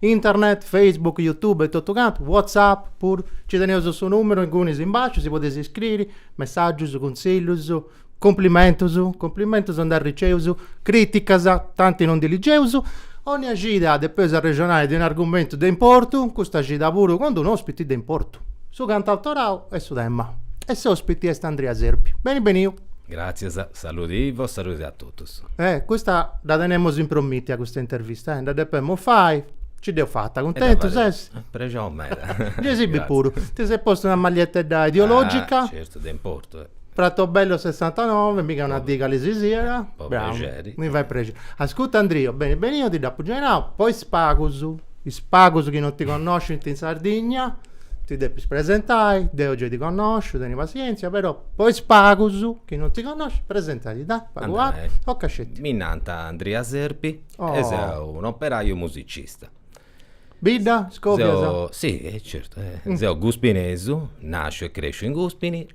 Internet, Facebook, Youtube e totu cantu, WhatsApp puru, nci teneus su nùmeru inguni in basciu, si podeis iscriri, messàgius, cuntzillus, cumplimentus, cumplimentus nd'arriceus, crìticas, tanti non ndi ligeus, ònnia cida depeus arrexonai de un'argumentu de importu, custa cida puru cun unu òspiti de importu, su cantautorau est su tema. E s'òspiti est Andria Serpi. Beni beniu! Gràtzias. Saludi e saludi a totus. Eh custa dda tenemus impromìtia custa intervista eh dda depemus fai, nci dd'eus fata, cuntentu ses? Prexoni meda. Gei si bi puru, ti ses postu una magliettedda ideologica. Certu de importu. Pratobello sessantanove, mica una dica-si-siat. Po prexeri. Mi fait prexeri. Ascurta Andrio, beni beniu, eo ti dd'apu gei nau po is pagus. is pagus chi non ti connoscint in Sardigna, ti depis presentai, deu gei ti connosciu, teni passièntzia, però po is pagus chi non ti connoscint, presenta·tì, dai, pagu pagu, tocat sceti. Mi nant Andria Serpi e seu un'operaiu musicista. Bidda, scobias? Seu, sì, certu, seu guspinesu, nàsciu e crèsciu in Guspini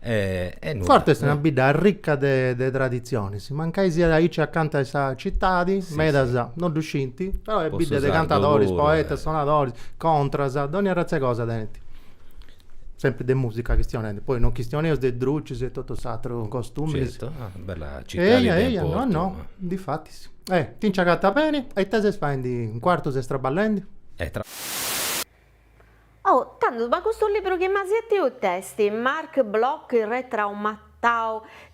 Cuartu est una bidda arricca de traditzionis, mancai siat aici acanta 'e sa citadi, medas no ddu scint, però est bidda de cantadoris, poetas, sonadoris, contas, dònnia arratz'e cosa tenint. Sempri de musica chistionendi, poi non chistioneus de drucis e totu s'atru costumis. Eia, eia, no, no, difatis. Ti nci agatas beni e ita ses faendi in Cuartu, ses traballendi? Oh, tandus, ma custu libru chi m'as batiu it'est, Marc Bloch I re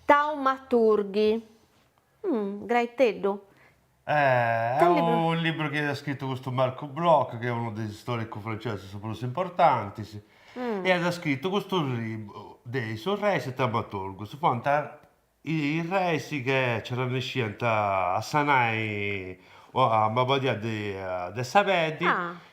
taumaturghi. Hum, graiteddu. Eh, est unu libru chi at scritu custu Marc Bloch, chi est unu de is istòricus francesus prus importantis, e at scritu custu libru de is urreis taumaturgus, fuant Is reis chi nci arrannesciant a sanai una mabadia de sa peddi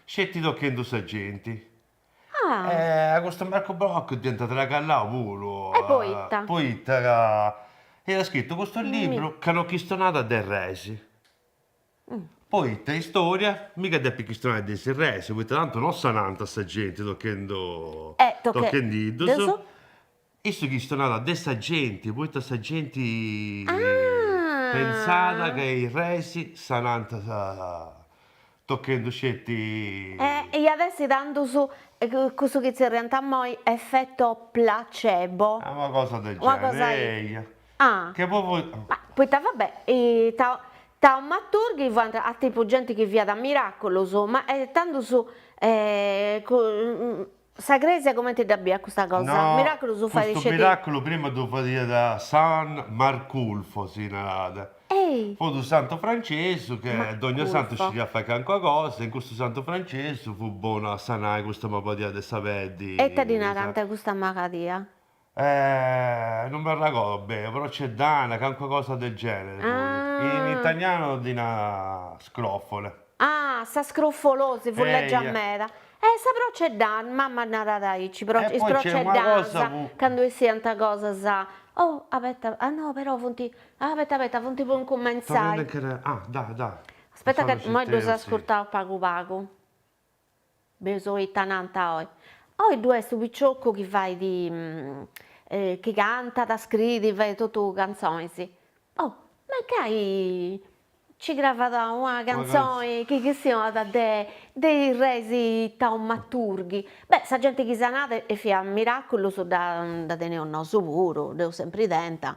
sceti tochendu sa genti. E a custu Marc Bloch dd'iant tragallau puru. Poita. Poita ca iat scritu custu libru ca no chistionat de is reis. Poita istória mica depit chistionai de is reis, poita tantu no sanant sa genti tochendu tochendiddus. Issu chistionàt de sa genti poita sa genti pentzàt ca is reis sanant tochendu sceti. E iat essi tandus cussu chi tzerriant immoi effetto placebo. Ah una cosa de su generi eia. Ah. Che po. Poita va bè taumaturghi fuant a tipu genti chi fiant miraculus ma tandus Sa crèsia comente dda biiat custa cosa? No, Miraculu ddu fait. Custu miraculu prima ddu fadiat San Marculfo si narat. Ehi! Fut unu santu francessu che dogna santu scidiat fai cancuna cosa e custu santu francessu fut bonu a sanai custa mabadia de sa peddi. E ita ddi narant custa mabadia? Eh non m'arragodo bene procedana cancua cosa del genere in italianu ddi nant scrofole. Ah sa scrofolosi fut legia meda eh sa procedana mamma narat aici is procedanas candu essiant cosas oh abeta ah no però funt ah abeta abeta funt po incumentzai ah da da aspetta ca imoi ddus ascurtaus pagu pagu Bieus ita nant oi. Oi ddu est su piciocu chi fait chi cantat, scriit, fait totu cantzonis. Oh, mancai nci cravat una cantzoni chi chistionat de de is reis taumaturghi. Beh, sa genti chi sanàt e fiat miràculus dda dda teniaus nosu puru, dd'eus sempri tenta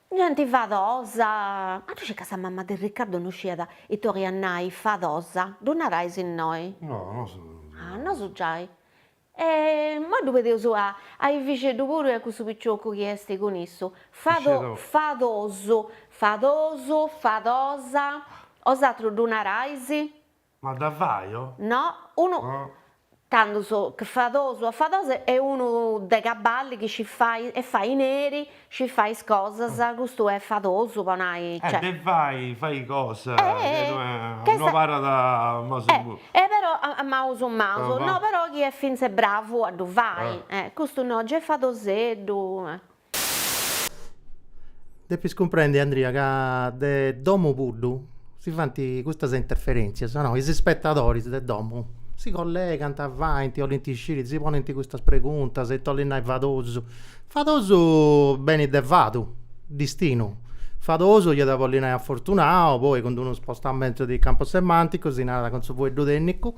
Genti fadosa! Ma ddu scis ca sa mama de Riccardo no sciat ita 'oliat nai fadosa? Ddu narais innoi? No, nosu giai. Ah, nosu giai. E immoi ddu pedeus a a Efixeddu puru e a cussu piciocu chi est cun issu. Fado, fadosu, fadosu, fadosa. 'Osatrus ddu narais? Ma dda fajo? No, unu tandus che fadosu ah fadosu est unu de caballi chi scit fai est faineri, scit fai is cosas, custu est fadosu po nai, cioè. Eh, de fai, fai cosa, chi no abarrat ma su. Eh, però, a maus maus, no, però chi est fintzes bravu a ddu fai, custu no, gei fadoseddu. Depis cumprendi Andria ca de domu puru si faint custas interferentzias, no, is ispetadoris de domu si collegant, faint, 'olint sciri, si ponint custas preguntas, ita 'olit nai fadosu, fadosu benit de fadu, distinu, fadosu iat a bolli nai afortunau, poi cun d'unu spostamentu de campu semanticu si narat cun su fueddu tennicu,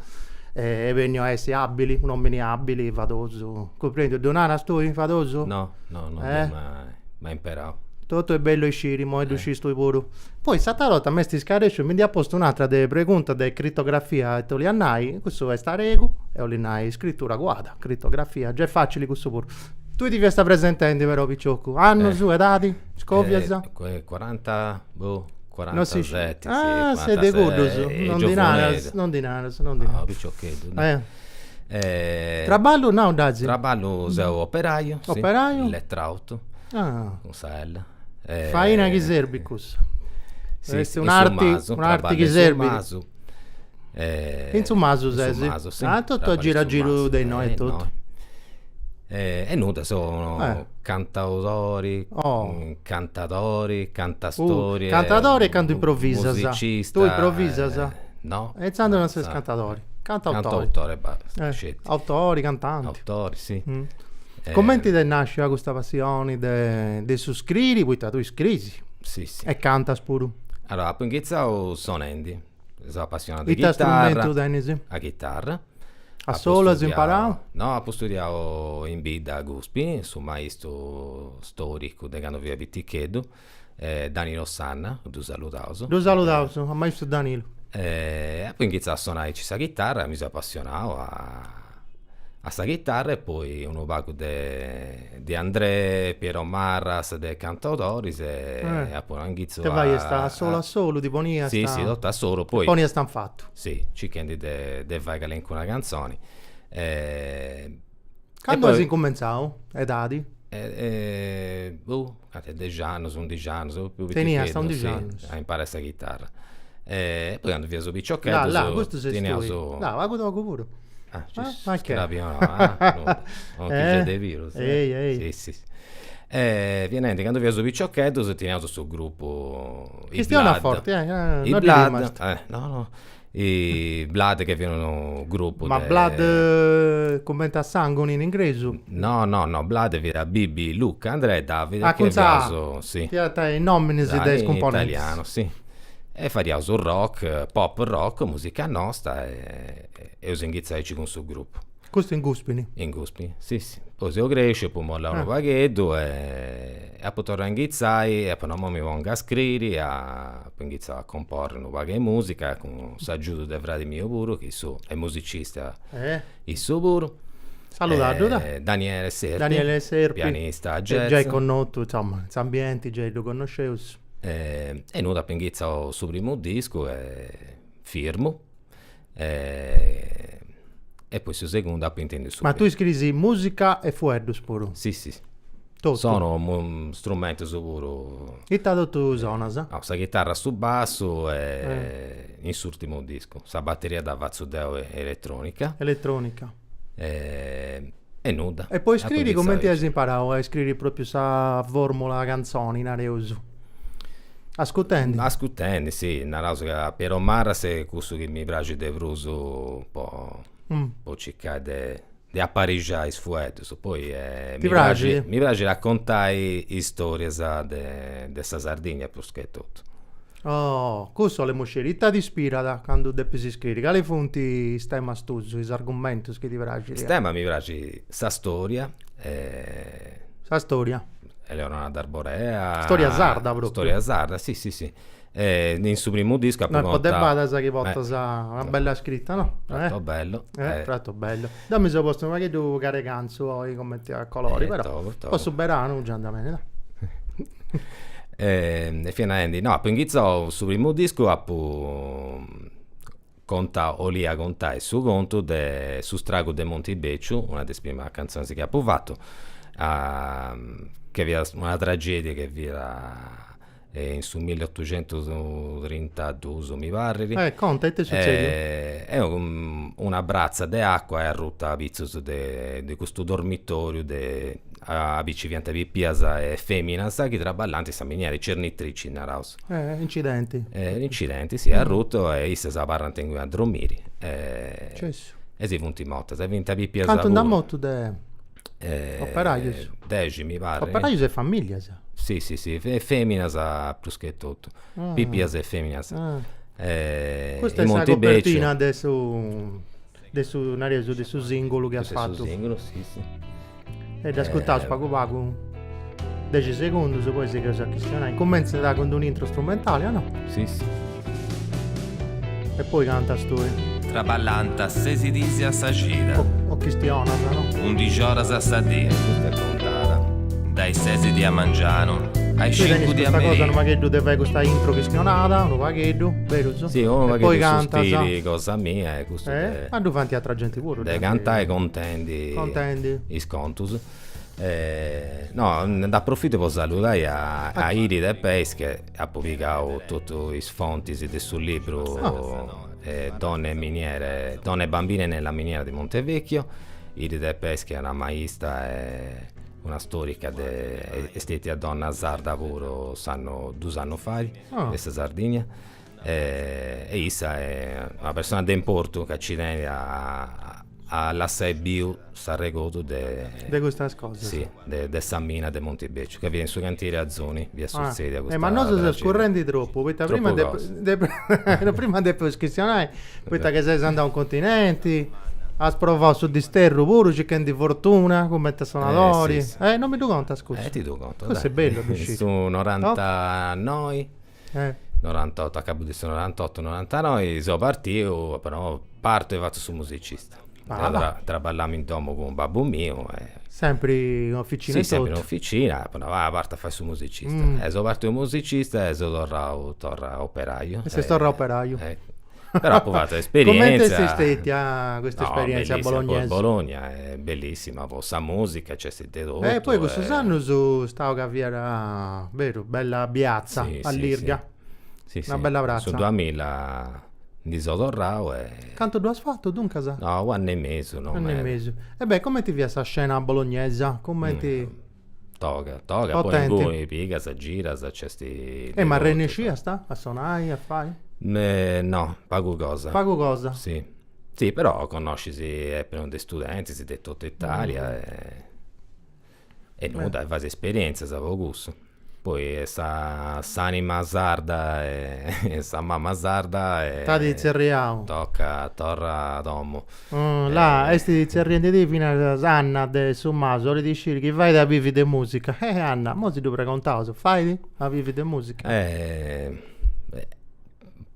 est benniu a essi abili, un'omini abili, fadosu Cumprèndiu, ddu naras tui fadosu? No, no, no dd'ia mai, mai imperau. Totu est bellu a isciri, imoi ddu scis tui puru. Poi s'atra 'orta m'est iscarresciu, mi nd'ia postu un'atra de pregunta de critografia ita 'oliat nai, cussu est aregu, e 'olit nai iscritura cuada, critografia, gei facili cussu puru. Tui ti fiast presentendi però piciocu, annus, edadi, scovias? Cuaranta, boh, cuarantaseti, si, cuarantasei, giovuneddu. Ah, ses de cuddus, non ndi naras, non ndi naras, non ndi naras. No, piciocheddu. Traballu nau dd'asi? Traballu seu operaiu, si, in Letrautu, cun sa L. Faina chi serbit cussa? Est un'arti, un'arti chi serbit? In su masu. In su masu ses? In su masu, si. Ah, totu a giru a giru de innoi e totu? E nudda seu cantautori, cantatori, cantastorie, cantadori e cantu improvisas, musicista, tui improvisas, no, e inzandus non ses cantadori, cantautore, autori, cantanti, cumenti t'est nascia custa passioni de de su scriri, poita tui scrisi e cantas puru? Allora apu inghitzau sonendi seu apassionau 'e is chitarras, a chitarra. A solu as imparau? No, apu studiau in bidda a Guspi, su maistru storicu de candu fia piticheddu, Danilo Sanna, ddu saludaus. Ddu saludaus a maistru Danilu. Apu inghitzau a sonai aici sa chitarra e mi seu apassionau a a sa chitarra e poi unu pagu de De Andrè, Piero Marras, de cantautoris e apu nau inghitzu a. Ita faiast, a solu a solu ti poniast? Si si totu a solu poi. Poniast in fatu. Si, circhendi de fai calincuna cantzoni. Candu as incumentzau, edadi? Boh A dexi annus, undixi annus, prus piticheddu, a imparai sa chitarra. E poi candu fiaus piciocheddus. Là, là, custu ses tui. Là, pagu togu puru. E niente, candu fiaus piciocheddus teniaus su grupu. Chistionaus forti, eh. I Blood chi fiat unu grupu de. Ma Blood cumenti a sangu in ingresu? No no no Blood fiat Bibi Luca Andrea e Davide. Acuntza fiant is nominis de is cumponentis. In italianu si. E fadiaus rock, pop rock, musica nosta e eus inghitzau aici cun su grupu. Custu in Guspini? In Guspini, si si. Poi seu cresciu, apu mollau unu pagheddu e apu torrau a inghitzai e apu nau, imoi mi pongu a scriri, apu inghitzau a comporri unu pagu 'e musica, cun s'agiudu de fradi miu puru, chi issu est musicista issu puru. Saludaddu, da. Daniele Serpi. Daniele Serpi. Pianista jazz. Giai connotu, insoma, in s'ambienti giai ddu connosceus. E innia apu inghitzau su primu discu e firmu e poi su segundu apu intendiu su. Ma tui scriis musica e fueddus puru? Si si. Totu. Sonu strumentus puru. Ita totu sonas? Sa chitarra su bassu e in s'urtimu discu sa batteria dda fatzu deu elettronica. Elettronica. e nudda. E po iscriri cumenti as imparau a iscriri propriu sa formula canzoni nareus? Ascutendi? Ascutendi si, naraus ca Piero Marras est cussu chi mi praxit de prus po po circai de de aparixai is fueddus, poi mi praxit mi praxit a contai is storias de sa Sardigna prus che totu. Oh, cussu 'olemu sciri. Ita t'ispirat candu depis iscriri? Cali funt is temas tuus, is argumentus chi ti praxit? Is temas mi praxit sa storia e. Sa storia. Eleonora D'Arborea. Storia sarda propriu. Storia sarda, si si si. In su primu discu apu conta. No, po de badas chi portas una bella scritta, no? Trato bello. Trato bello. Deu mi so postu unu pagheddu caragantzu oi comenti a colori, però po su beranu già andat beni. E fia narendi, no, apu inghitzau su primu discu, apu contau, 'olia contai su contu de Su stragu de Monti Beciu, una de is primas cantzonis chi apu fatu, che fiat una tragedia chi fiat in su miliotucentustrintaduus mi parrit. E conta, ita est sutzediu? E una bratza de acua est arruta apitzus de de custu dormitoriu de, aubi nci fiant pipias e feminas chi traballant in sa miniera, is cernitrici naraus. E incidenti. E incidenti, si, est arrutu e issas abarrant inguni a dromiri. Cessu. E si funt mortas e fiant pipias puru. Cantu nd'at mortu de operajus dexi mi parrit, operajus e familias, si si si e feminas prus che totu, pipias e feminas e custa est sa copertina de su de su nareus de su singulu chi as fatu e dd'ascurtaus pagu pagu 10 segundus poi sigheus a chistionai cumentzat cun d'un'intro strumentali o no? Si si e poi cantas tui? Traballant sesi dis a sa cida o chistionas no? undixi oras a sa dì dae sesi di a mangianu a is cincu di a merì tui tenis custa cosa unu pagheddu de fai custa intro chistionada unu pagheddu berus? Si unu pagheddu de su stili cosa mia e custu de ma ddu faint atra genti puru de cantai contendi is contus No, nd'aprofito po saludai a Iride Peis chi apu pigau totu is fontis de su libru Donne e miniere, donne e bambine nella miniera di Montevecchio, Iride Peis chi est una maista e una storica de, est stetia donna sarda puru s'annu, dus annus fait, de sa Sardigna E issa est una persona de importu ca nci tenit a lassai biu s'arregodu de. De custas cosas. Si, de sa mina de Montibèciu, ca fiat in su cantìeri Azoni, fiat sutzèdia custa. Ma nosu seus currendi tropu, poita prima depu. Prima depeus chistionai, poita ca ses andau in continenti, as provau su disterru puru circhendi fortuna cumenti a sonadori. Non mi ddu contas cussa. E ti ddu contu, dai. Cussa est bella po sciri. Su noranta noi. 98, a cabu de su 98, 99 seu partiu, però partu e fatzu su musicista. Deu traballamu in domu cun babbu miu e. Sempri in oficina e totu? Si, sempri in oficina, apu nau, vai, partu a fai su musicista. E seu partiu musicista e seu torrau, torra operaiu. E ses torrau operaiu. però apu fatu esperientzia. Comenti est stetia custa esperientzia a Bologna? No, Bologna est bellissima po sa musica, nc'est de totu. E poi cussus annus istau ca fiat, beru, bella piazza, allirga. Si, si, in su duamilla ndi seu torrau e. Cantu ddu as fatu duncas? No, u' annu e mesu, no meda. U' annu e mesu. E beh, comenti fiat sa scena bolognesa? Comenti. Toga, toga, po potenti. Inguni pigas, giras, nc'est de E ma totu. arrennesciast a sonai, a fai? Me no, pagu cosa. Pagu cosa. Si, si, però connoscis e puru de studentis de totu Italia e e nudda, fais esperientzias po cussu. Poi sa s'anima sarda e sa mama sarda e T'at tzerriau. Toca torra a domu La est tzerriendedì finas Anna de su Masu, 'olit isciri chi fait a bivi de musica. Eh Anna, imoi si ddu pregontaus, fait a bivi de musica?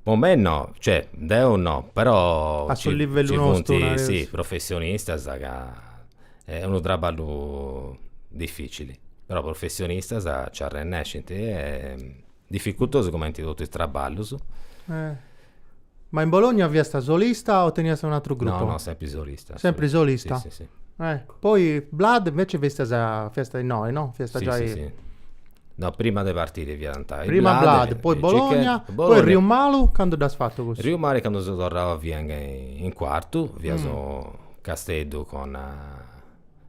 Po mei no, cioè deu no, però ci funt si professionistas ca, est unu traballu dificili, però professionistas nci arrennescint Dificultosu cumenti totu is traballus. Ma in Bologna fiasta solista o teniasta un atru gruppu? No no sempri solista. Sempri solista? Si si si. Poi Blood inveci fiast fiasta innoi no? Fiasta giai. Si si si. No prima de partiri fiant i. Prima Blood, poi Bologna, poi Riu Malu candu dd'as fatu cussu? Riu Malu candu seu torrau fia in cuartu, fiaus Casteddu con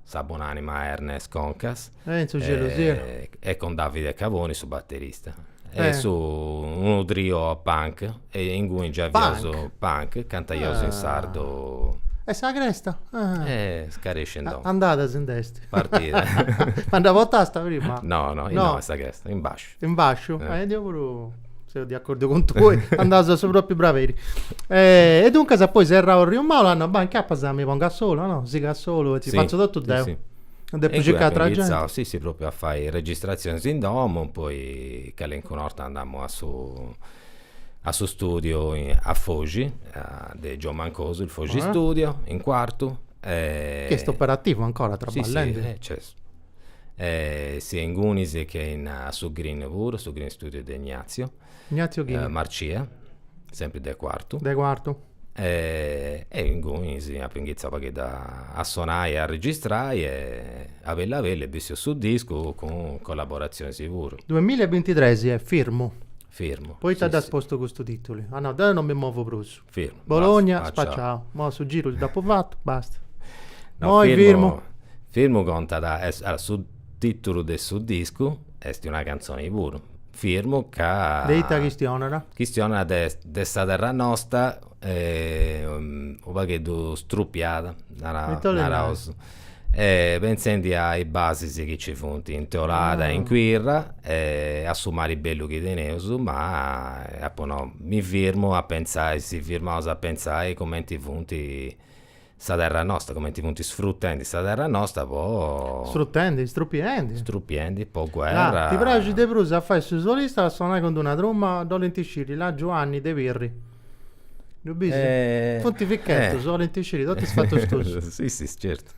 Sa bon'anima a Ernest Concas. E in su celu siat. E con Davide Caboni su batterista. E su unu trio punk e inguni già fiaus punk cantaiaus in sardu. E sa cresta? Scarèscia in domu. Andada si nd'est. Partida. Ma dda portast prima? No no, innoi est sa cresta, in basciu. In fasciu? Eh. E deu puru seu de acordu cun tui, andaus a su propriu barberi. E duncas poi serrau Riu Maulu, andu, bah, nci apu a mi ponni a solu, no? Sigu a solu e ti fatzu totu deu. Sì, sì. Depu circai atera genti. E inguni apu inizau, sì, sì, propriu a fai registrazionis in domu, poi calincuna 'orta andamu a su a su studiu a Foxi, de Giò Mancosu, il Foxi Studio, in Cuartu. Chi est operativu ancora, traballendi? Sì, sì, eh, cioè e sia ingunis che a su Green puru, su Green Studio de Ignazio Marcia, sempri de Cuartu. De Cuartu. E ingunis apu inghitzau u' pagheddu a sonai e a registrai e a bellu a bellu est bessiu su discu cun collaborazionis puru. Duemilla e bintitres est firmu? Firmu. Poita dd'as postu custu titulu? Ah no, deu non mi movu prus. Firmu. Bologna, basta, spaciau. spaciau. Mo su giru si d'apu fatu, basta. No, moi firmu, firmu. Firmu contat, est, allora, su titulu de su discu est una cantzoni puru, Firmu, ca. De ita chistionat? Chistionat de de sa terra nosta u' pagheddu strupiada, naraus. e pentzendi a is basis chi nci funt in Teolada e in Quirra e a su mari bellu chi teneus, ma apu nau, mi firmu a pentzai, si firmaus a pentzai cumenti funt sa terra nostra, cumenti funt sfrutendi sa terra nostra po. Sfrutendi, strupiendi. Strupiendi po guerra. Ah, ti praxit de prus a fai su solista o a sonai cun d'una trumma? Dd'olint sciri, la', Giuanni de Pirri. Eh, funt fichetus, eh. bolint sciri totu is fatus tuus. si si certu.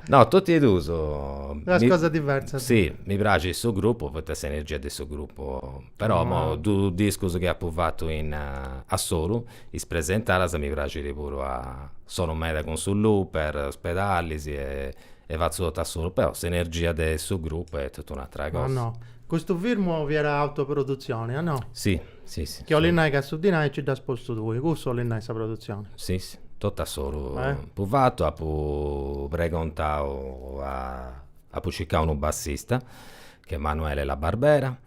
No, tot'e duus. Duas cosas diversas. Si, mi praxit su grupu poita s'energia de su grupu, però no, duus discus chi apu fatu in a solu, is presentadas mi praxit puru a, a solu meda cun su looper, is pedalis e e fatzu totu a solu, però s'energia de su grupu est totu un'atra cosa. Ah no, custu firmu fiat autoprodutzioni, ah no? Si, si, si. Chi 'olit nai ca su dinai nci dd'as postu tui, cussu 'olit nai sa produtzioni? Si, si, totu a solu apu fatu, apu pregontau a, apu circau unu bassista, chi est Emanuele La Barbera,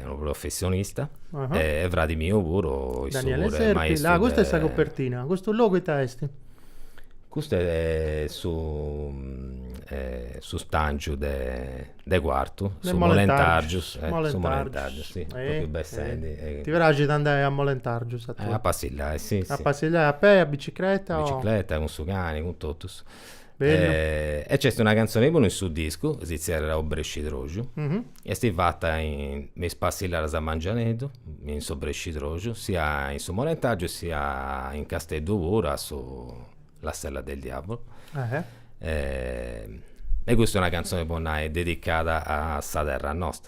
unu professionista e fradi miu puru est su puru est maistru de custa est sa copertina custu logu ita est? Custu est su su stangiu de Cuartu su Molentargius Molentargius si propriu bessendi ti praxit andai a Molentargius a tui? A passillai si si a passillai a pei a bicicreta o? A bicicreta cun su cani cun totus e c'est una cantzone puru in su discu, si zerriat Obrescidroxu, est fata in, me is passillaras a mangianeddu, in s'obrescidroxu, sia in su Molentargiu sia in Casteddu puru a su La Sella del Diavolo e custa est una cantzone po nai dedicada a sa terra nosta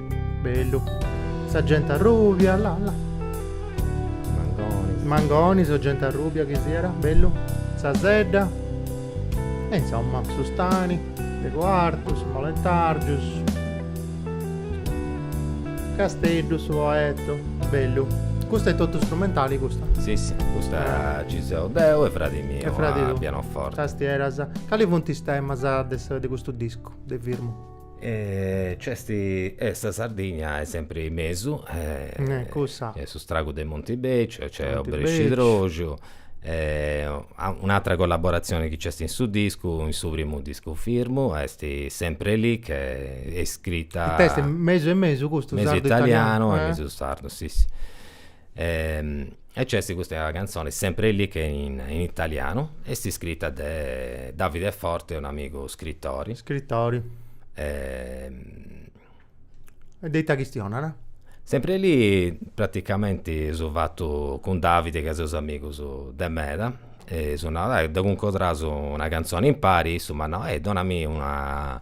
Bellu. Sa gente arrubia, la la. Mangonis. Mangonis o gente arrubia chi siat, bellu. Sa sedda. E insomma, su stani, de Coartu, su Molentargius. Casteddu, su Poeto, bellu. Custa è totu strumentali custa? Si si, custa ci seu deu e fradi miu a pianoforte. Tastieras. Cali funt is temas de custu discu de firmu? E nc'est, e sa Sardigna est sempri in mesu, cussa, e S'istragu de Montibeciu, nc'est Obrescidroxu, e un'atra collaboratzioni chi nc'est in su discu, in su primu discu firmu, est Sempre lì, chi est scrita mesu e mesu, mesu italianu e mesu sardu, si si E nc'est custa cantzone, Sempre lì, chi est in italianu, est iscrita de Davide Forte, un'amigu scritori. Scritori. E de ita chistionat? Sempre lì praticamenti dd'eus fatu cun Davide ca seus amigus de meda, e dd'apu nau, dai, cuncordaus una cantzone impari, issu m'at nau, donami una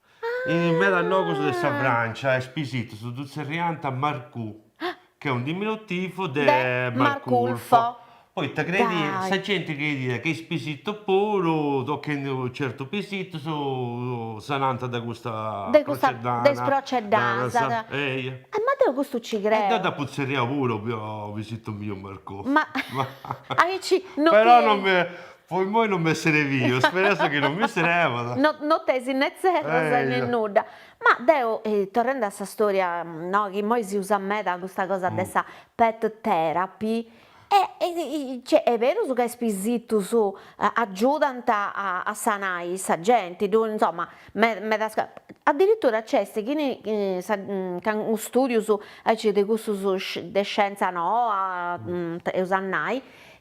In medas logus de sa Frància is pisitus ddus tzerriant Marcù, ch'est unu diminutivu de Marculfo, poita crediant, sa genti crediat chi is pisitos puru, tochendi unu certu pisitu, si sanànt de custa de custa de is porceddanas, eia, e ma deu custu ci creu, e deu dd'apu tzerriau puru pisitu miu Marcù, ma aici no ti 'enit, però non mi Po immoi non m'est serviu, spereus chi non mi servat. No no tèngiu ne zerros e ne nudda. Ma deo, torrende a sa storia, no, chi immoi si usat meda custa cosa de sa pet therapy, e cioè est berus ca is pisitus agiudant a sanai sa genti, ddu insomma medas addirittura nc'est chini cun custus studius aici de cussus de scienza noa eus a nai,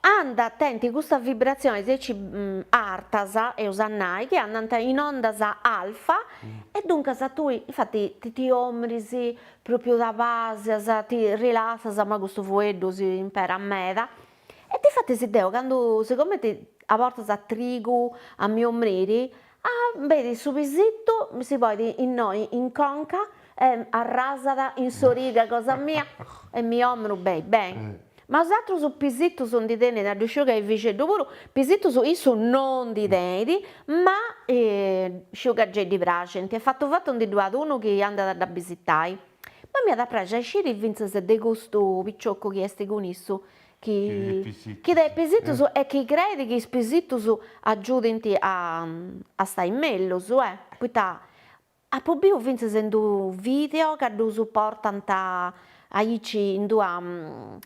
Ant a tenni custas vibratziones aici artas, eus a nai, chi andant in ondas alfa e duncas tui, infati, ti ti omris pròpriu ti abasias, ti rilassas, imoi custu fueddu si imperat meda, e difatis deo candu sigomente a bortas trigu a mi omriri Benit su pisittu si ponit innoi in conca e arrasat in s'origa cosa mia e mi 'ormu beni beni. Ma bosatrus pisittus ndi teneis, gei ddu sciu ca Efixeddu puru, pisittus issu non ndi tenit, ma sciu ca gei ddi praxint e fatu fatu ndi ddu at unu chi andat a ddu bisitai. Ma m'iat a praxi a sciri fintzas de custu picioccu chi est cun issu, chi de pisitus e chi creit chi is pisitus agiudint a stai mellus, poita apu biu fintzas in d'unu video ca ddus portant aici in d'una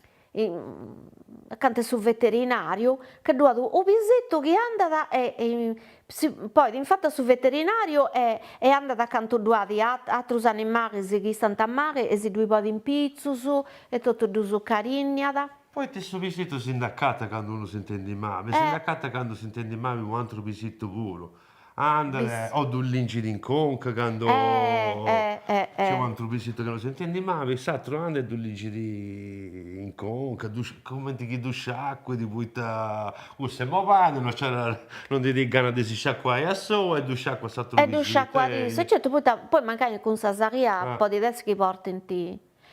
acanta 'e su veterinariu, ca ddu at u' pisitu chi andat e Si poi infatis a su veterinariu e e andat acanta ddu at atrus animalis chi istant mali e si ddui bat in pitzus e totu ddus carinniat. Poita su pisitu si nd'acatat candu unu si ntendit mali, si nd'acatat candu si ntendit mali unu antru pisitu puru, andat e ddu lincit in conca candu nc'est u' antru pisitu chi no si ntendit mali, s'atru andat e ddu lincit in conca, ddu comenti chi ddu sciacuit poita Cussa est malàida, no nch'at no ndi tenit gana de si sciacuai a sou e ddu sciacuat s'atru pisitu. Certu poita poi mancai cun sa saria podit essi chi portint.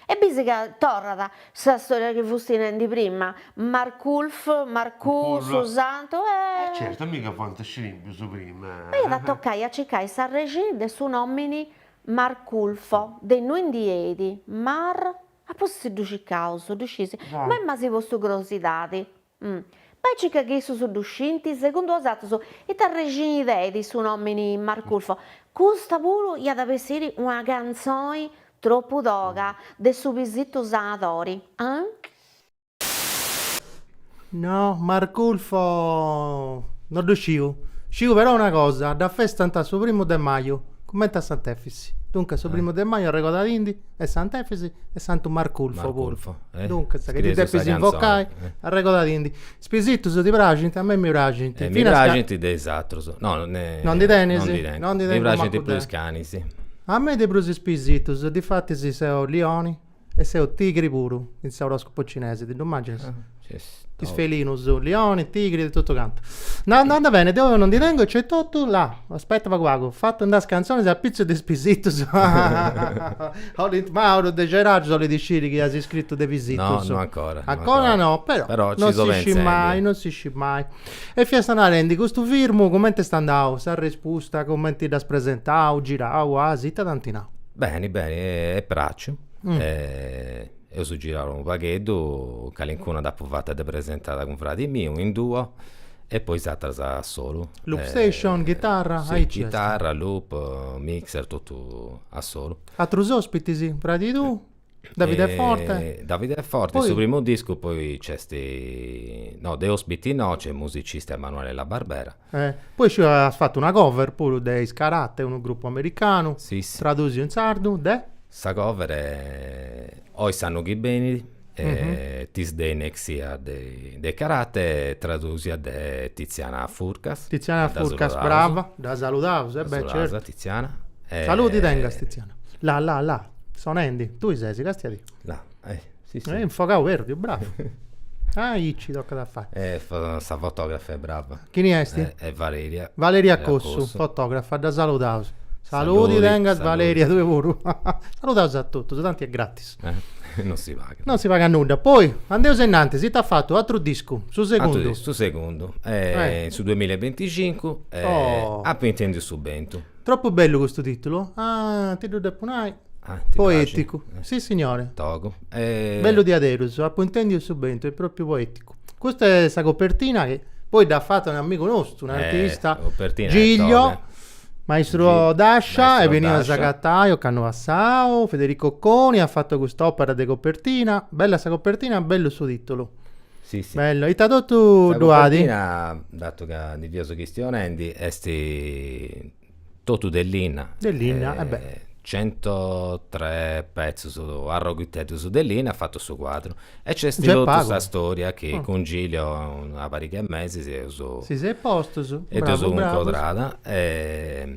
E bisi ca torrat sa storia chi fus narendi prima, Marculf, Marcù, su santu, e. Certu, a mi ca fuant scrimpius prima. M'aiat a tocai a circai s'arrexì de su nomini Marculfo, de innui ndi benit Mar, apoi ddu circaus, ddu sciis, ma est mancai po su grosidadi. Bai e circa chi issus ddu scint, segundu osatrus, ita arrexini tenit su nomini Marculfo? Custa puru iat a bessiri una cantzoni tropu toga de su Pisitu Sanadori, anc. No, Marculfo no ddu sciu. Sciu però una cosa, dda festant su primu de maju, cumenti a Sant'Efis. Duncas su primu de maju arregodadindi. e Sant'Efisi e Santu Marculfo puru. Duncas, chi ddi depis invocai, arregodadindi. Is pisitus ti praxint? A mei mi praxint. Mi praxint de is atrus. No, non ndi tenis? Non ndi tengu. Non ndi tengu mancu deu. Mi praxint prus is canis. A mei de prus is pisitus, difatis seu lioni e seu tigri puru in s'oroscopu cinesi, ti ddu imaginas? Is felinus, lioni, tigri e totu cantu. No, no anda bene, deu non ndi tengu e nc'est totu là. Aspetta pagu pagu. Fatu andai is canzonis a pitzus de is pisitus. Olint Mauru de Gerargius olit a sciri chi as scritu de pisitus. No, no ancora. Ancora no, però, però non si scit mai, non si scit mai. E fiaus narendi, custu discu cumenti est andau, s'arrespusta cumenti dd'as presentau, girau, as ita t'ant nau? Beni, beni, est pràxiu. Eus girau unu pagheddu, calincuna dd'apu fata de presentada cun fradi miu in duo e poi is ateras a solu. Loop station, ghitarra, aici est. Ghitarra, loop, mixer, totu a solu. Atrus ospitis, fradi tuu, Davide Forte. Davide Forte, in su primu discu poi nc'est, no de ospiti no, nc'est musicisti Emanuele La Barbera. Poi sciu ca as fatu una cover puru de Is Karate, unu grupu americanu, tradusia in sardu de? Sa cover est Oi s'annu chi benit, This Day Next Year de Is Karate, tradusia de Tiziana Furcas. Tiziana Furcas, brava, dda saludaus. Dda saludaus a Tiziana. Saludi tengas Tiziana. La la la, sonendi, tui ses, castia-tì. La, eh. Sì, sì. Eh, infogau perdiu, bravu. Aici tocat a fai. E sa fotografa est brava. Chini est? E, e Valeria. Valeria Cossu, fotografa, dda saludaus. Saludi, Saludi tengas saludi. Valeria, tue puru. Saludaus a totus, tanti est gratis. Eh, non si pagat. Non si pagat nudda. Poi, andeus innanti, iast fatu un'atru discu, su segundu. Atru discu, su segundu. Eh, in su duamilla e binticincu, oh. Apu intendiu su bentu. Troppu bellu custu titulu. Ah, ti ddu depu nai. Ah, ti praxit? Poeticu. Sissignore. Togu. E... Bellu diaderus, apu intendiu su bentu, est propriu poeticu. Custa est sa copertina chi poi dd'at fata un amigu nostru, un eh, artista, eh, Gilio. Maestro d'ascia, est benniu a s'acabbai ocannu passau, Federico Coni at fatu cust'òpera de copertina bella sa copertina bellu su titulu Si si. Bellu, ita totu ddu at? Sa copertina, datu ca ndi fiaus chistionendi, est totu de linna. De linna, e beh. Centotre petzus arroghiteddus de linna at fatu su cuadru. E nc'est totu sa storia chi cun Gilio una pariga 'e mesis eus. Si seus postus, bravu bravu. E dd'eus cuncordada e.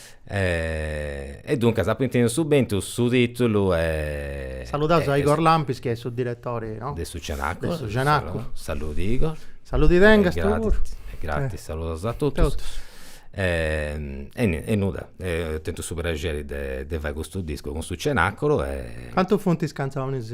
E duncas apu intendiu su bentu su titulu e. Saludaus a Igor Lampis chi est su diretori de. De su Cenacu. De su Cenacu. Saludi Igor. Saludi tengas tui puru. E gratis saludaus a totus. Totus. E e nudda tentu su prexeri de fai custu discu cun su Cenaculu e. Cantu funt is cantzonis.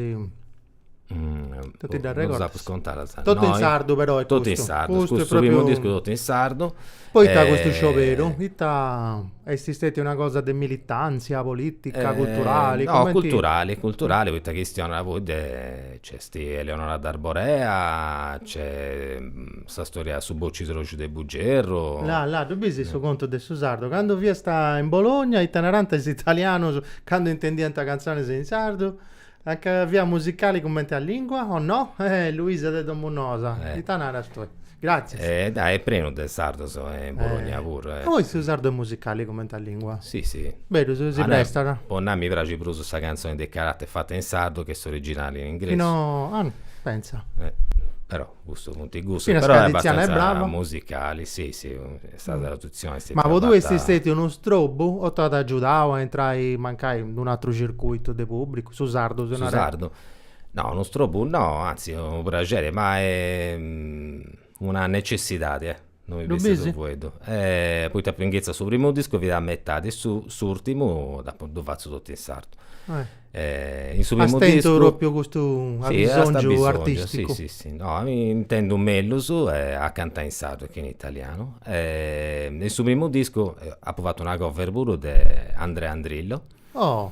Totu ddas regordas? Non ddas apu contadas. Totu in sardu però est custu? Totu in sardu, custu est su primu discu totu in sardu. Poita custu scioberu? Ita est stetia una cosa de militàntzia polìtica, culturali? No, culturali, culturali poita chistionat puru de, nc'est Eleonora D'Arborea, nc'est sa storia de su bocidroxu de Bugerru. Là, là, ddu bisi su contu de su sardu? Candu fiasta in Bologna ita narànt is italianus candu intendiant cantzonis in sardu? Nca fiat musicali cumenti a lìngua, o no? Eh, Luisa de Domusnoas, ita naras tui? Gràtzias. E dai, est prenu de sardos in Bologna puru. E poi su sardu est musicali cumenti a lìngua? Si, si. Berus, si prestat. Po nai, mi praxit prus sa cantzoni de Karate fata in sardu che s'originali in ingresu. No, ah, pentza. Però. Custus funt gustus, però Tiziana est brava, musicali, si si, sa tradutzioni est stetia fata. Ma po tui est stetiu unu strobu o t'at agiudau a intrai mancai in unu ateru circuitu de pubblicu, su sardu si narat? Su sardu? No, unu strobu no, anzi unu praxeri, ma est una necessidadi. Ddu bisi? Eh poita po inghetzia su primu discu fut a metadi e s'urtimu apu ddu fatzu totu in sardu. In su primu discu As tentu propriu custu abisongiu artisticu. Sì sì, no mi intendu mellus a cantai in sardu che in italianu. In su primu discu apu fatu una cover puru de Andrea Andrillo. Oh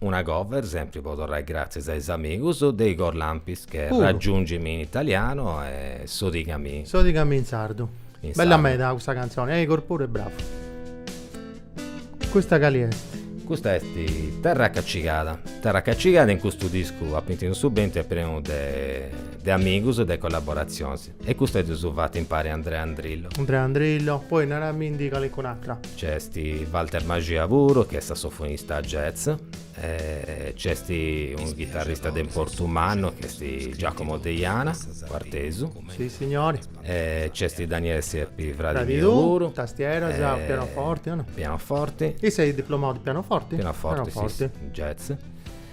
Una cover sempri po torrai gratzias a is amigus de is Corlampis che Puru. raggiungimi in italiano e sodigami. Sodigami in sardu. In sardu. Bella meda custa cantzoni, a Igor puru e bravu. Custa cali est? Custa est Terra Cacigada. Terra Cacigada in custu discu Apu intendiu su bentu est prenu de de amigus e de collaborazionis. E custu est su fatu impari a Andrea Andrillo. Andrea Andrillo, poi naramindi calincun'atra. Nc'est Walter Maxia puru chi est sassofonista jazz e nc'est unu chitarrista de importu mannu chi est Giacomo Deiana, cuartesu. Si signori. E nc'est Daniele Serpi, fradi miu puru. Tastieras, pianoforti, no? Pianoforti. Issu est diplomau de pianoforti? Pianoforti, si, jazz.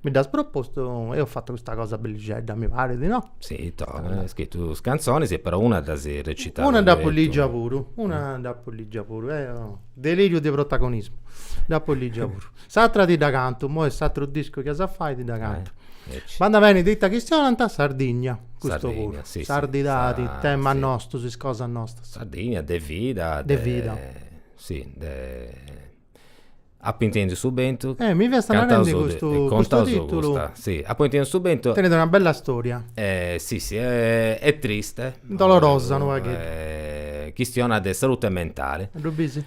Mi dd'as propostu, eo apu fatu custa cosa bellixedda, mi parit, no? Si, to, as scritu is cantzonis e però una dd'as recitau. Una dd'apu lìgia puru, una dd'apu lìgia puru, eo, deliriu de protagonismu, dd'apu lìgia puru. S'atra ti dda cantu, imoi in s'atru discu chi as a fai ti dda cantu. Andat beni ita chistionant, Sardigna, custu puru, sardidadi, temas nostus, is cosas nostas. Sardigna, de vida, de vida, si, de Apo intendiu su bentu. Eh mi fiasta narendi custu custu titulu. Si, apo intendiu su bentu. Tenit una bella storia. Eh si si est triste. Dolorosa unu pagheddu. Chistionat de salute mentale. Ddu bisi?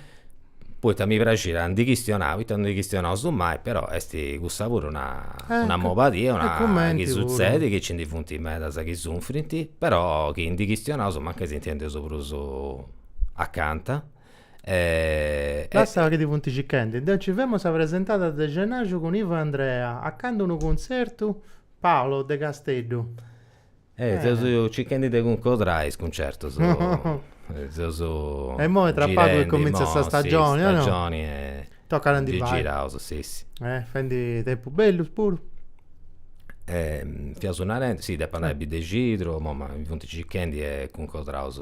Poita mi praxit a ndi chistionai, poita non ndi chistionaus mai, però est cussa puru una una mobadia, una cosa chi sutzedit, chi nci ndi funt medas chi sunfrint, però chi ndi chistionaus mancai si intendeus prus acanta Lassa chi ti funt circhendi. Deu nci femu a sa presentada de Scenaju cun Ivo e Andrea, a candu unu cuntzertu? Paolo, de Casteddu. Eh, seus circhendi de cuncodrai is cuntzertus. Seus E imoi tra pagu chi cumintzat sa stagioni, o no? Stagioni e. Tocat a ndi fai. Ndi giraus, si, si. Eh, fendi tempus bellus puru. Fiaus narendi, si, depu andai a Biddexidru, imoi ma mi funt circhendi e cuncodraus.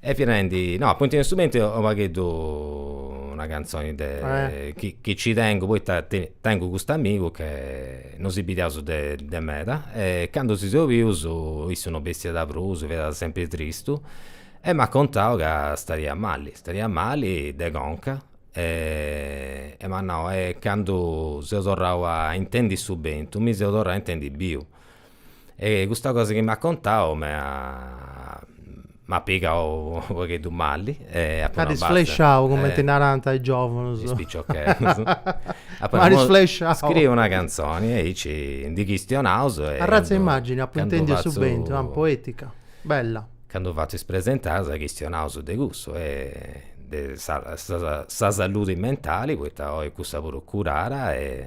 E fia nendi, no, Apu intendiu su bentu est u' pagheddu una cantzoni de chi chi ci tengu poita tengu custu amigu chi no si bidiaus de de meda e candu si seus bius issu no bessiat prus, fiat sempri tristu e m'at contau ca stadiat mali, stadiat mali de conca e m'at nau e candu seu torrau a intendi su bentu mi seu torrau a intendi biu E custa cosa chi m'at contau m'at pigau unu pagheddu mali e apu nau. T'at isflesciau cumenti narant is giovunus. Is piciocheddus. Apu nau, isflesciau. Scriu una canzoni e aici ndi chistionaus. Arratza 'e imagini, apu intendiu a su bentu, poetica, bella. Candu fatzu is presentadas chistionaus de cussu e de sa saludi mentali poita oi cussa puru est curada e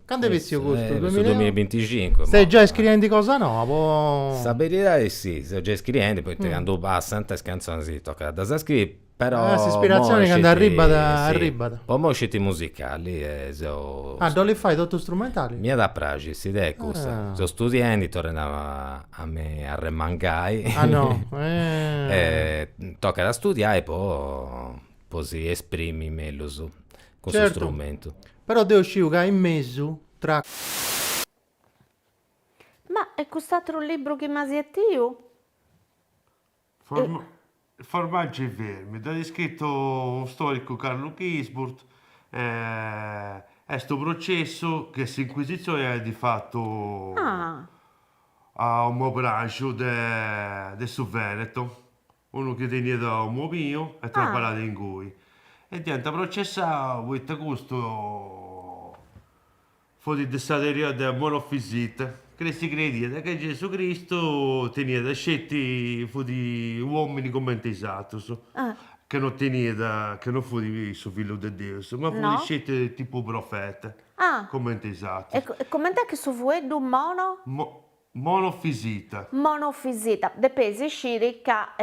Candu est bessiu custu? Su duamilla e binticincu. Ses giai scriendi cosa noba po. Sa beridadi est si, seu giai scriendi poita candu passant is cantzonis tocat a ddas scriri, però. Ah s'ispiratzioni candu arribbat arribbat. Po imoi sceti musicali e seu. Ah dd'olis fai totu strumentali? M'iat a praxi s'idea est cussa. Seu studiendi, torrendi a mi arremangai. Ah no. Tocat a studiai po po si esprimi mellus cun su strumentu. Però deo sciu ca in mesu, tra. Ma e cust'atru libru chi m'as betiu? Formaggi e vermi, dd'at iscritu unu storicu Carlo Ginzburg, est unu processu chi s'inquisizioni iat fatu a unu mobinaxu de su Veneto. unu chi teniat unu mobinu e traballàt inguni e dd'iant processau poita custu fut de sa teoria de Monofisita chi si crediat chi Gesù Cristu teniat sceti fut uomini cumenti is atrus chi no teniat chi no fut su fillu de Deus ma fut sceti tipu profeta cumenti is atrus. E cumenti est chi su fueddu mono Monofisita. Monofisita, depeis isciri ca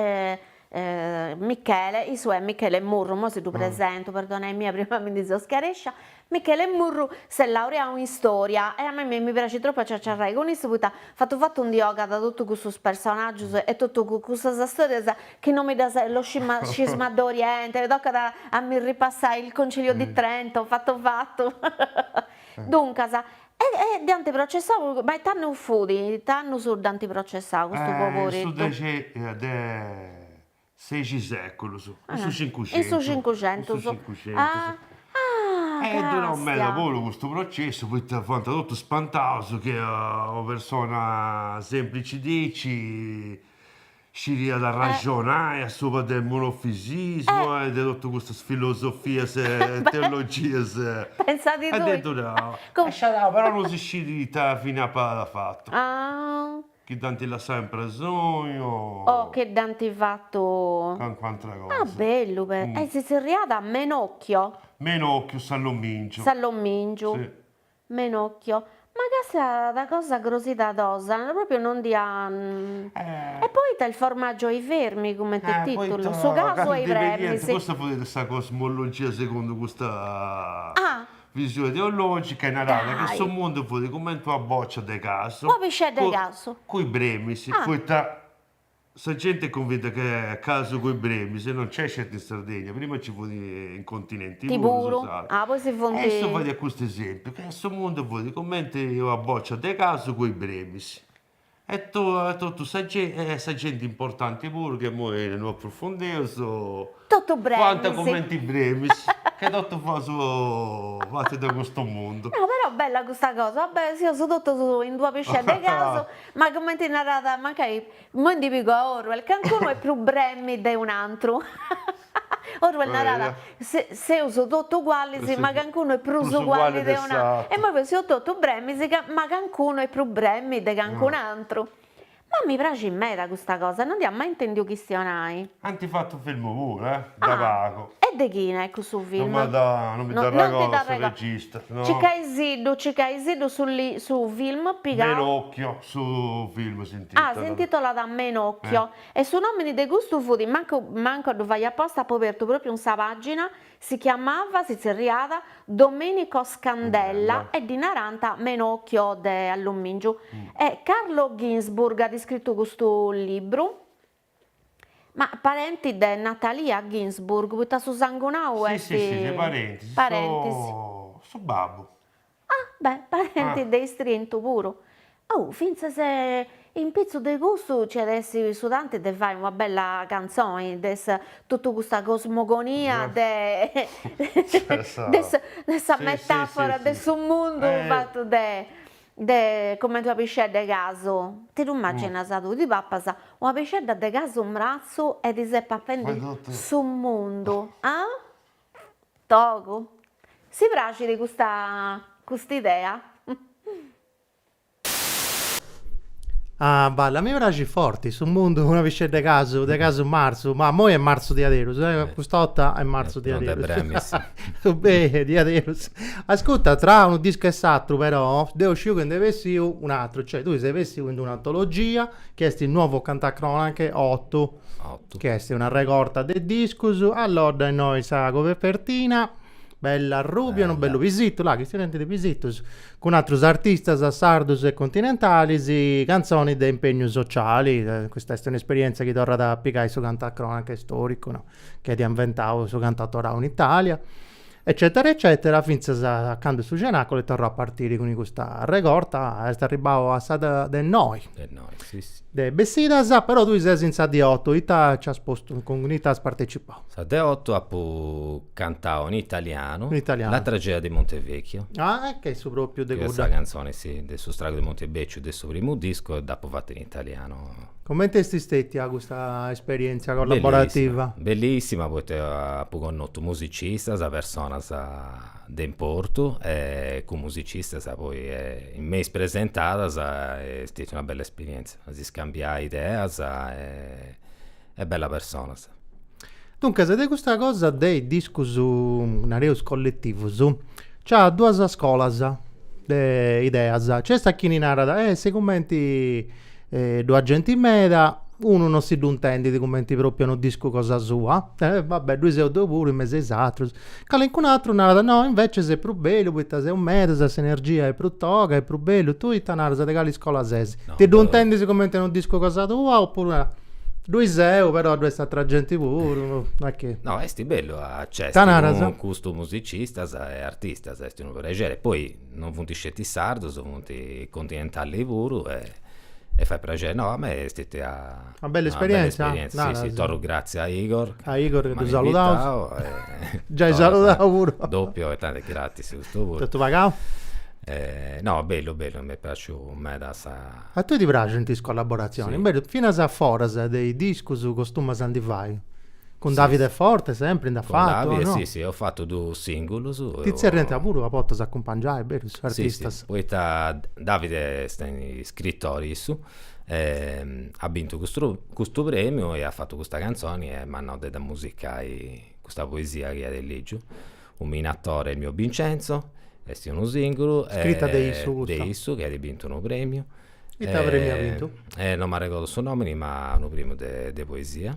Michele, issu est Michele Murru, imoi si ddu presentu, perdonai-mì prima mi ndi seu scarèscia, Michele Murru s'est laureau in Storia e a mei mi praxit tropu a ciaciarrai cun issu poita fatu fatu ndi ogat totu cussus personaggius e totu cussas storias chi no mi ddas lo scismadori 'ent, mi tocat a mi ripassai il Concilio di Trento fatu fatu duncas E dd'ant processau, ma e it'annu fut, it'annu dd'ant processau custu poberitu? In su dexesexi seculus, in su cincuxentus. In su cincuxentus. In su cincuxentus. Ah ah est durau meda puru custu processu poita fuant totus spantaus chi una persona semplici diaici Sciriat arraxonai a subra de monofisismu e de totu custas filosofias e teologias. Pensat tui. Aberu. Sciadau, però non si scit ita fini apat fatu. Ah. Chi dd'ant lassau in presoni o. O chi dd'ant fatu. Calincuna atra cosa. Ah, bellu però. E si zerriat Menocchio? Menocchio, Salomingiu. Salomingiu. Si. Menocchio, Ma ca sa cosa crosidadosa proprio no ndi an. E poita il formaggio e i vermi cumenti titulu, su casu e is bremis. Custa fut sa cosmologia segundu custa visioni teologica narada ca su mundu fut cumenti una boccia de casu, cun is bremis, poita Sa genti est cunvinta ca casu cun is bremis non c'est sceti in Sardegna, prima ci fut in continenti puru, su puru, sardu. ah poi si funt. E issu fadiat custu esempiu, ca in su mundu fut cumenti una bòcia de casu cun is bremis, e totu sa genti, e sa genti importanti puru, ca imoi no aprofundeus, Totu bremis. fuant cumenti bremis, ca totu fuaus fatus de custu mundu. No però bella custa cosa, seus totus in d'una piscedda 'e casu Ma cumenti narat, mancai immoi ndi pigu a Orwell, cancunu est prus bremmi de un'antru. Orwell narat, seus totu ugualis, ma cancunu est prus uguali de un'antru. E immoi peus, seus totu bremmis, ma cancunu est prus bremmi de cancun'antru. Ma mi praxit meda custa cosa, non nd'ia mai intendiu chistionai. Ant fatu filmu puru, eh? De pagu. E de chini est cussu film? No mi dda no mi dda arregordu su regista, no. Cicaisiddu, Cicaisiddu su su film pigau. Menocchio su film s'intitolat. Ah, s'intitolat Menocchio. E su nomini de custu fut, mancu mancu a ddu fai aposta, apu abertu propriu in sa pagina, si chiamava, si tzerriat, Domenico Scandella e ddi narant Menocchio de allumingiu. E Carlo Ginzburg at iscritu custu libru. Ma parenti de Natalia Ginzburg, poita su sangunau est. Si si si parenti, parentis. Su babbu. Ah beh parenti de istrintu puru. Oh fintzas in pitzus de custu nci at essi su tanti de fai una bella cantzoni de sa totu custa cosmogonia de de sa metafora de su mundu fatu de De comente una piscedda 'e casu, ti ddu immagginas tui, ti pappas una piscedda de casu mratzu e ti ses papendi su mundu, ah? Togu. Si praxit custa custa idea? Ah Balla, mi praxit forti, su mundu, una piscedda 'e casu, de casu marzu, ma immoi est marzu diaderus, eh, custa 'orta est marzu diaderus. So bene, diaderus. Ascutta, tra unu disco e s'atru però, deo sciu chi nd'est bessiu un'atru, cioè tui ses bessiu in un'antologia chi est Nuovo Cantacronache 8, 8. chi est una regorta de discus, allodda innoi sa copertina, bella arrubia, unu bellu pisitu, là chi si tenint de pisitus, cun atrus artistas sardus e continentalis, cantzonis de impegnu sociali, custa est un'esperienza chi torrat a pigai su cantacronache storicu, no? chi at inventau su cantautorau in Italia, eccètera eccètera, fintzas a candu su cenacolo est torrau a partiri cun custa arregorta, est arribbau a sa de innoi, de bessidas, però tui ses in sa de oto, ita nci as postu, cun ita as partecipau? Sa de oto apu cantau in italianu, in italianu, La tragedia di Montevecchio, ah e che est su propriu de cudda, chi est sa cantzoni, si, de su stragu de Montebecciu de su primu discu e dd'apu fata in italianu Comenti est stètia custa esperièntzia collaborativa? Bellissima, poita apu connotu musicistas, personas de importu e cun musicistas poi in is presentadas e est stètia una bella esperièntzia, a si scambiai ideas e bellas personas Duncas, de custa cosa de is discus, nareus colletivus, nc'at duas scolas de ideas. Nc'est a chini narat, eh si cumenti ddu at genti meda, unu non si ddu intendit cumenti propriu a unu discu cosa sua, eh va bè, ddui seu deu puru in mesu a is atrus Calincun atru narat no, invècias est prus bellu poita seus medas e s'energia est prus toga, est prus bellu, tui ita naras de cali iscola ses? Ti ddu intendis cumenti unu discu cosa tua opuru naras, ddui seu però ddoi est atra genti puru, no est chi. No, est bellu a nc'essi cun custus musicistas e artistas, est unu prexeri, poi non funt sceti sardus, funt continentalis puru e fait prexeri, no a mei est stetia Una bella esperienza. Una bella esperienza, Nara, sì, sì, torru grazie a Igor. A Igor che tu saludau. Eh, Giai dd'as saludau puru. Doppio tanti est gratis custu puru. Totu pagau? Eh, no, bellu, bellu, m'est praxiu meda sa... A tui ti praxint is collaboratzionis? Sì. Bellu, finas a foras de is discus costumas a ndi fai. Cun Davide Forte sempri nd'as fatu, o no? Cun Davide, sì, sì, apu fatu dus singulus. Ti tzerriant puru a bortas a cumpangiai, berus, artistas? Sì, sì, poita Davide est iscritori issu. at bintu custu premiu e at fatu custa cantzoni e m'at nau de dda musicai custa poesia chi at lìgiu. U minatore mio Vincenzo, est unu sìngulu. Scrita de issu custa. De issu chi at bintu unu premiu. Ita premiu at bintu? Non m'arregodu su nòmini ma unu premiu de poesia.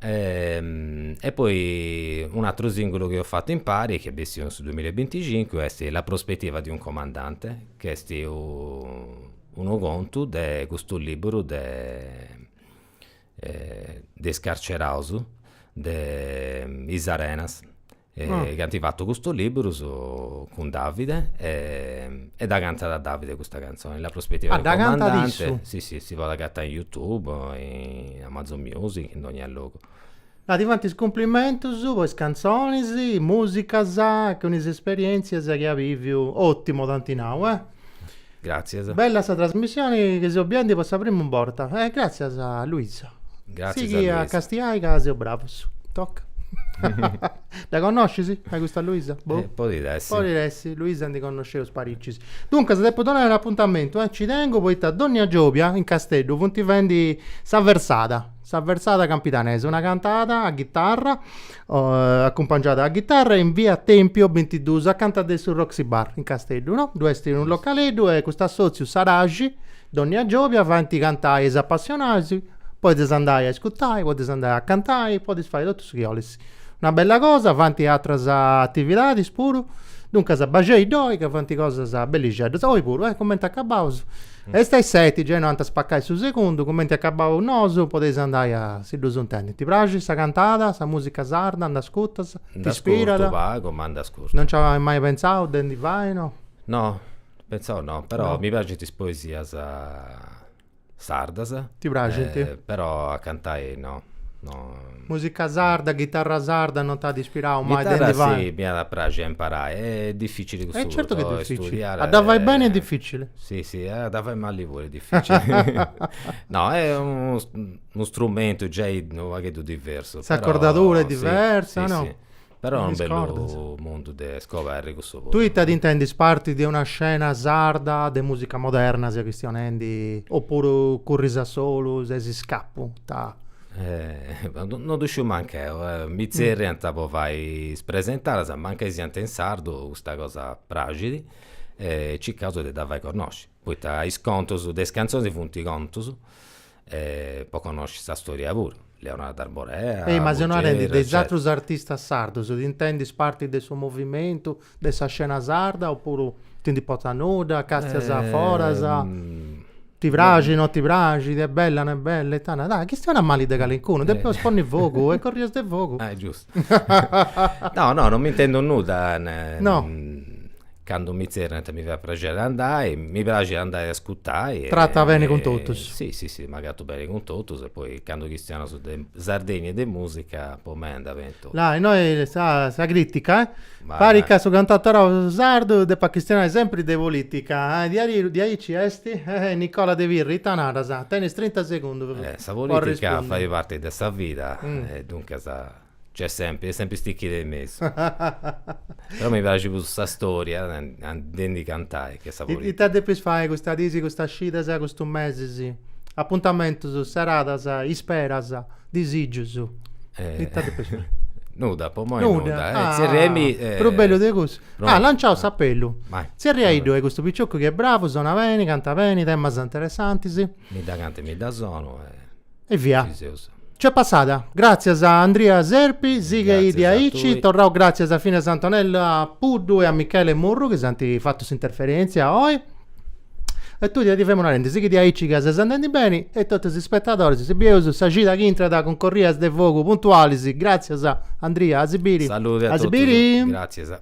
E poi un'ateru sìngulu chi eus fatu impari chi est bessiu in su duamila e binticincu est La prospettiva di un comandante chi est Unu contu de custu liburu de de is carceraus de Is Arenas chi ant fatu custu liburu cun Davide e dda cantat Davide custa cantzoni, La prospettiva del comandante. Ah dda cantat issu? Si si si podit agatai in YouTube o in Amazon music in donnia logu. Ah, ti fant is cumplimentus po is cantzonis, musicas, cun is esperientzias chi at biviu. Ottimo t'ant nau, eh. Gratzias. Bella sa trasmissioni chi seu biendi po sa primu borta. Eh, gratzias a Luisa. Gratzias a Luisa. Sighi a castiai ca seus bravus. Toc. Dda connoscis a custa Luisa? Boh. Eh, podit essi. Podit essi, Luisa ndi connosceus paricis. Duncas, depu donai un'apuntamentu, eh. Nci tengu poita dònnia giòbia in Casteddu funt fendi sa versada. Sa versada campidanesa, una cantada a ghitarra, acumpangiada a ghitarra in via Tempio bintiduus, acanta de su Roxy Bar in Casteddu, no? Ddu est unu localeddu e custu assòtziu Saraxi dònnia giòbia fant cantai is apassionais, podis andai a iscurtai, podis andai a cantai, podis fai totu su chi 'olis Una bella cosa, fant atras atividadis puru, duncas baxei ddoi ca fant cosas bellixeddas, oi puru, eh, cumenti acabaus, est a is seti, gei no ant a spacai su segundu, cumenti acabaus nosu podeis andai a si ddus intendi. Ti praxit sa cantada, sa musica sarda, nd'ascurtas, t'ispirat? Nd'ascurtu pagu, ma nd'ascurtu. Non nci as mai pentzau de ndi fai, no? No, pentzau no, però mi praxint is poesias. sardas. Ti praxint? Eh, però a cantai no. no. Musica sarda, ghitarra sarda, non t'at ispirau mai de ndi fai? si, m'iat a praxi a imparai, est dificili cussu. Eh certu chi est dificili, a dda fai beni est dificili. Si, si, a dda fai mali puru est dificili. No, est unu strumentu giai unu pagheddu diversu. S'acordadura est diversa, no? Però est unu bellu mundu de scoberri cussu puru. Tui ita t'intendis parti de una scena sarda de musica moderna seu chistionendi oppuru curris a solu ses iscapu ta. No ddu sciu mancu eu, mi tzerriant po fai is presentadas mancai siant in sardu, custa cosa praxit e circaus de dda fai connosci, poita is contus de is cantzonis funt contus po connosci sa storia puru. Eleonora d'Arborea. Ehi ma seu narendi de is atrus artistas sardus ti intendis parti de su movimentu de sa scena sarda oppuru ti nd'importat nudda, castias foras, ti praxit no ti praxit, est bella no est bella e tanda tanda, chistionas mali de calincunu, depis ponni fogu e corrias de fogu. no, no, non m'intendu nudda. No, no. Candu mi tzerriant mi fait praxeri andai, mi praxit andai a ascutai. Tratas beni cun totus. Sì, sì, sì, m'agatu beni cun totus e poi candu chistionas de Sardegna e de musica po mei andat beni totu. Là, e noi sa, sa critica, eh? Parit ca su cantautorau sardu depat chistionai sempri de polìtica. Diaderus diaici est? Ehi, Nicola de Pirri, ita naras? Tenis trinta segundus po arrispondi. Sa polìtica fait parti de sa vida e duncas nc'est sempri, est sempri istichida in mesu. Però mi praxit prus sa storia de ndi cantai che sa polìtica. Ita depis fai custas dis, custas cidas, custus mesis? Apuntamentus, seradas, isperas? Disìgius. Ita depeus nai? Nudda, po imoi nudda. Tzerriaimi... Prus bellu de cussu? Ah, lanciaus s'apellu. Tzerriaiddu est custu picioccu chi est bravu, sonat beni, cantat beni, temas interessantis. Mi dda cantu e mi dda sonu e... E via. Nc'est passada. Gràtzias a Andria Serpi, sighei diaici, torraus gràtzias finas a Antonella Puddu e a Michele Murru chi s'ant fatu s'interferèntzia oi. E tui ti femu narendi, sighi diaici ca ses andendi beni e totus is spetadoris, si bieus sa cida chi intrat cun corrias de fogu puntualis, gràtzias a Andria, a si biri. Salude a totus, gràtzias.